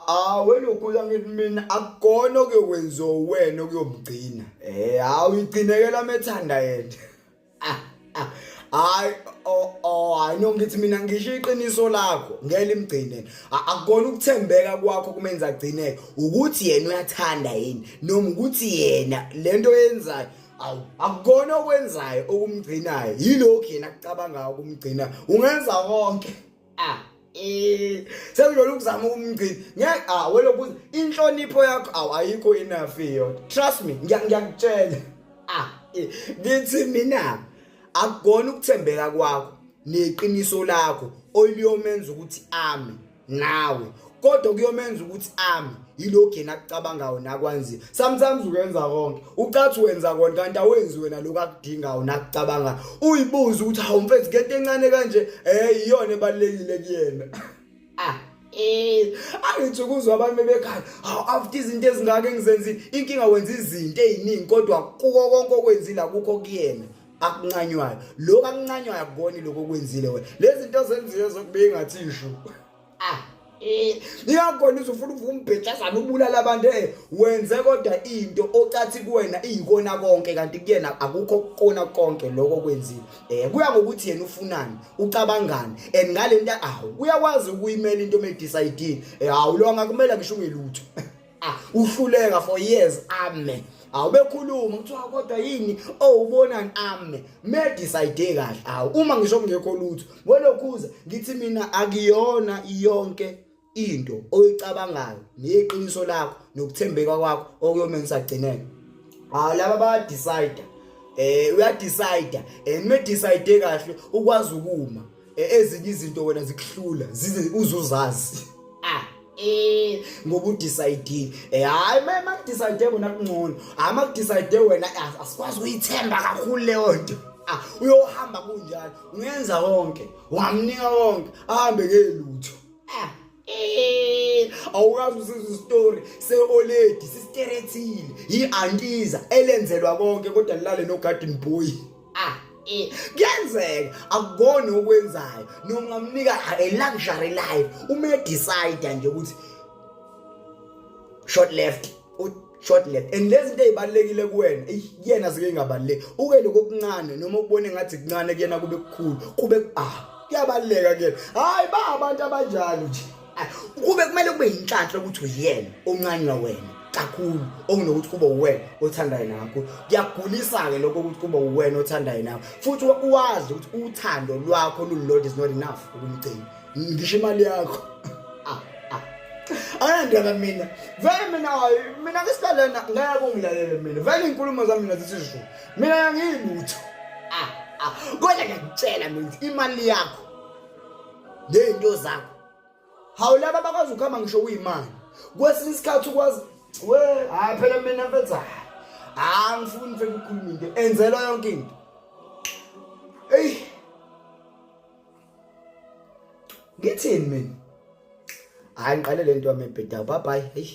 awe lokuya ngithi mina akukona okuyokwenziwa uwena okuyomgcina eh hawu igcinekela methanda yena ah, ah. hayi oh, oh, hayi no ngithi mina ngisho iqiniso lakho ngeke imgcine akukona ukuthembeka kwakho kumenza agcineke ukuthi yena uyathanda yini noma ukuthi yena lento yenzayo awu akukona okwenzayo okumgcinayo yilokhu yena kucabanga ukumgcina ungenza konke ah eh sekujolo ukuzama ukumgcina ngeke ah weloku inhlonipho yakho aw ayikho enough yona trust me ngiyakutshela ah eh, ngithi mina akugona ukuthembeka kwakho neqiniso lakho oliyomenza ukuthi ame nawe kodwa kuyomenza ukuthi ami yilokhu yena akucabangayo nakwanzi sometimes uyenza konke ucathi wenza konke kanti awenzi wena lokhu akudingayo nakucabanga uyibuze ukuthi hawu mfethu ngento encane kanje eh iyona ebalekile kuyena ah eh angithi ukuzwa abantu bebekhala hawu after izinto ezingaka engizenzi inkinga wenza izinto eziningi kodwa kuko konke okwenzile akukho kuyena akuncanywayo lokho akuncanywayo akuboni lokho okwenzile wena lezi zinto zenzile zokubingathi isho ah eh niyakona uzofuna uvuka umbhejazana ubulala abantu eh wenze kodwa into ocathi kuwena iyikona konke kanti kuyena akukho kona konke lokho kwenzile eh kuya ngokuthi yena ufunani ucabangani and ngalento awu uyakwazi ukuyimela into me decide eh awulonga kumele ngisho ungelutho ah uhluleka for years ame awubekhuluma kuthiwa kodwa yini owubonani ame me decide kahle awu uma ngisho kungekho lutho welokhuza ngithi mina akuyona yonke into oyicabangayo neqiniso lakho nokuthembeka kwakho okuyome ngisagcineke hawu laba ba decide eh uya decide and me decide kahle ukwazi ukuma E, ezinye izinto wena zikuhlula zize uzuzazi ah eh ngoba udecide eh hayi mama kudecide wena kungcono hayi makudecide wena ah, asikwazi uyithemba kakhulu leyo nto ah uyohamba kunjalo ungenza konke ungamnika konke ahambe ke lutho ah Eh, awukazi usiza story seoledi sisterethile yiantiza elenzelwa konke kodwa lilale no garden boy ah eh, kuyenzeka akukoni okwenzayo noma ungamnika a luxury life uma decide nje ukuthi short left short left and lezi zinto ezibalekile kuwena kuyena zike ingabaleki uke lokho okuncane noma ukubone ngathi kuncane kuyena kube kukhulu kube ah kuyabaleka kuyena hayi ba abantu abanjalo nje kube kumele kube yinhlanhla ukuthi uyena oncanywa wena kakhulu okunokuthi kube uwena othandayo nakho kuyagulisa-ke lokho ukuthi kube uwena othandayo nakho futhi uwazi ukuthi uthando lwakho lululodwa is not enough ukumgcina ngisho imali yakho ah, ah. anandaba mina vele mina mina ngisidalena ngeke kungilalele mina vele iy'nkulumo zami mina zithi zulu mina yangiyilutho ah, kodwa ngiyakutshela mina imali yakho ney'nto zakho hawu laba bakwazi ukuhamba ngisho kuyimali kwesinye isikhathi ukwazi we hhayi phela mina mfethu hhayi angifuni mfethu ukhuluma into enzelwa yonke into eyi ngithini mina hayi ngiqale le nto yami ebhedayo bye bye heyi